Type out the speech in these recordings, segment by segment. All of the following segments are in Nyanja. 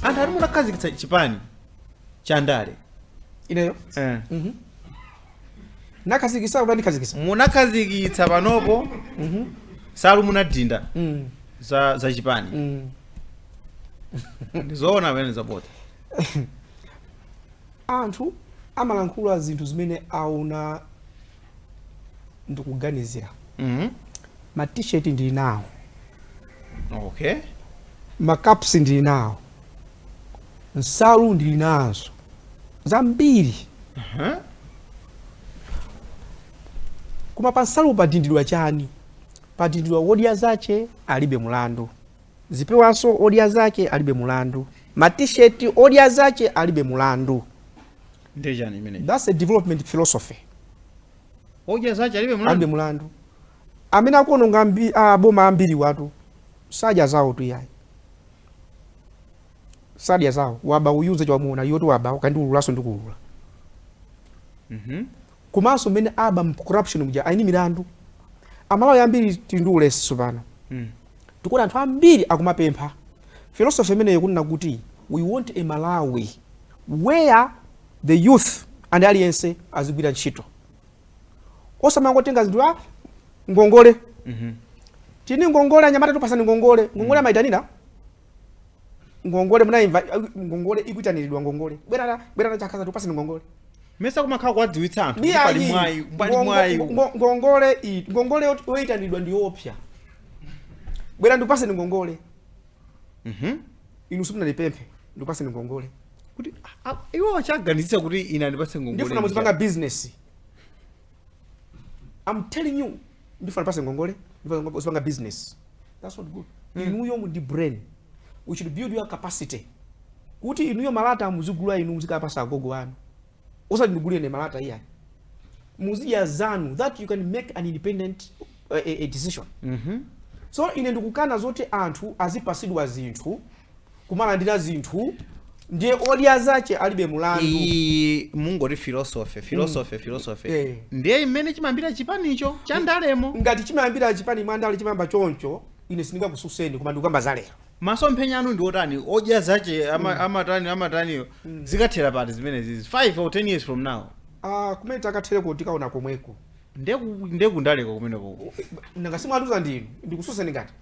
anthu ati munakhazikitsa chipani cha ndale ineyo eh. ndakhazikitsa kuti sindinakhazikitse munakhazikitsa panopo nsalu munadinda Mm, za, za chipani mm. ndizoona pamenezo poti anthu amalankhula zinthu zimene aona ndikuganizira mm. ma t-shirt ndili nawo okay ma caps ndili nawo nsalu ndili nazo zambiri uh-huh. koma pa nsalu padindidwa chani padindidwa odya zace alibe mulandu zipewanso odya zace alibe mulandu ma t-shirt odya zace alibe mulandu Ndiye chani chimenecho? That's a development philosophy. Odya zace alibe mulandu. Alibe mulandu. Amene akuononga ambi, a boma ambiriwatu sadya zaotu ayi. Sadya zao akuba uyunze chwa muona yotu waba ukandiululanso ndikuulula. Mhm. Mm Komanso mmene aba corruption muja ali ndi milandu. Amalawi ambiri tili ndi ulesi sopano. Mhm. Mm Tikuona anthu ambiri akumapempha. Philosophy imeneyo kunena kuti we want a Malawi. where the youth and aliyense azigwira ntchito osamangotenga zinthu a ah, ngongole mhm. tengani ngongole anyamata tikupasani ngongole ngongole mhm. amaitanira ngongole munaimva ngongole ikuitaniridwa ngongole bwerani bwerani chakhaza tikupasani ngongole mesa kumakhala kuwadziwitsa anthu pali mwayi pali mwayi ngongole ngongole yoitaniridwa ndi yoopsya bwera ndikupaseni ngongole Mhm. inu simunandipemphe ndikupatseni ngongole kuti a- a- iwo chawaganizitsa kuti ine andipatse ngongole ndifuna muzipanga ndija. business i'm telling you ndifuna ndikupase ngongole ndifuna muzipanga business that's not good inuyo muli ndi brain we should build your capacity kuti inuyo malata muzigula inu muzikapasa agogo anu osati ndigule ine malata iyayi muzidya zanu that you can make an independent uh, a, a decision Mhm. so ine ndikukana zoti anthu azipasidwa zinthu kumalandira zinthu ndiye odya zace alibe mulandu iyi mukuti filosofe filosofe filosofe Eh. ndiye mmene chimayambira chipanicho chandalemo ngati chimayambira chipani mwa ndale chimayamba choncho ine sindingakususeni koma ndikukamba za lero masomphenya anu ndi otani odya zache ama, amatani amataniyo zikathera pati zimenezizi 5 or 10 years from now Ah, kumene tikathereko tikaona komweko nde ku nde kundaleko kumeneko nanga si mwatiuza ndinu ndikususeni ngati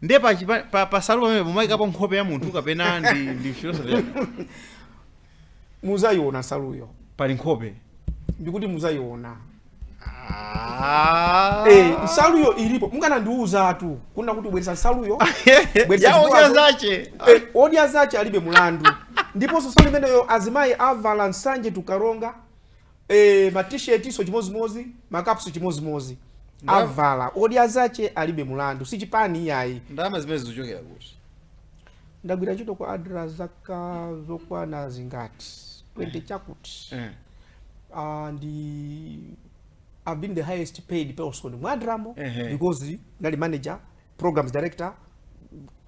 nde pa, pa, pa, pa nsalu pamenepo mumayikapo nkhope ya munthu kapena ndi ndi philosophy yake. Muzaiona nsaluyo. Pali nkhope. Ndikuti muzaiona. Ah. Eh, nsaluyo ilipo. Mukanandiuzatu. Kunena kuti mubweretsa nsaluyo. Bweretsa ya odya zache. Eh, odya zache alibe mulandu. Ndiponso nsalu imeneyo azimayi avala nsanje ku Karonga. Eee ma t-shirt nso chimozimozi, ma caps chimozimozi. Ndam- Avala, odya zache alibe mulandu, si chipani iyayi. ndalama zimene zikuchokera kuti Ndagwira ntchito kwa ADRA zaka zokwana zingati, 20 chakuti. Eh. uh, ndi I've been the highest paid person mwa ADRA mo Ehe. because ndali manager programs director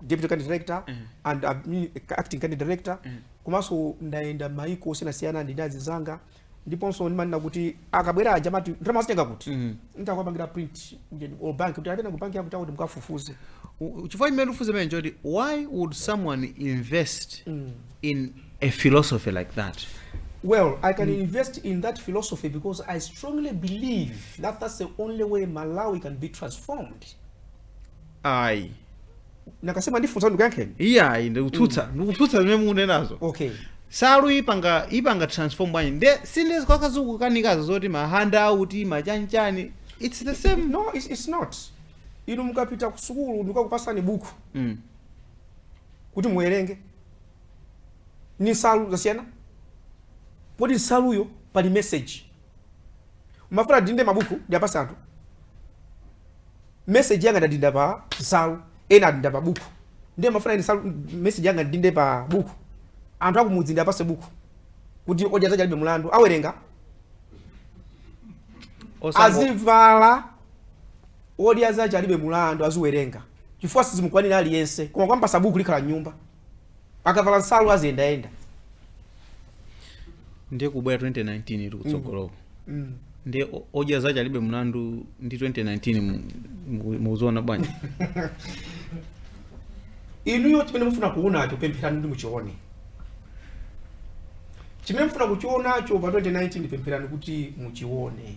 deputy country director mm. and admin, acting country director mm. komanso ndayenda maiko osiyanasiyana ndi anzanga ndiponso ndimanena kuti akabwera aja amati ndalama azitenga kuti mm. nditakuwapangira print all bank kuti atena ku bank yakuti akuti mukafufuze chifukwa chimene ndifufuze pena choti why would someone invest mm. in a philosophy like that Well, I can mm. invest in that philosophy because I strongly believe that that's the only way Malawi can be transformed. ayi mukanena ndifunsa ndikuyankheni iye ayi ndikukutsutsa ndikukutsutsa zimene mukunenazo okay nsaluyo ipanga ipanga transform bwanji nde si ndi izi zikukanikazo zoti ma handout ma chanichani its the same no it's, it's not inu mukapita ku sukulu ndikakupasani buku mm. kuti muwerenge ndi nsalu zasiyana kodi nsaluyo pali message mumafuna ndidinde mabuku ndiwapatse anthu message yanga ndadinda pa nsalu ena adinda pa buku ndiye mumafuna ine nsalu message yanga ndidinde pa buku anthu akumudzi ndiwapatse buku kuti odya zache alibe mulandu awerenga Osango- azivala odya zache alibe mulandu aziwerenga chifukwa sizingakwanire aliyense koma mukampatsa buku likhala mnyumba akavala nsalu aziyendayenda ndiye kubwera 2019 iri kutsogoloko mm. ndiye o- odya zache alibe mlandu ndi 2019 mu- mu- mukuziona bwanji inuyo chimene mufuna kuchionacho pempherani kuti muchione chimene mufuna kuchionacho pa 2019 pempherani kuti muchione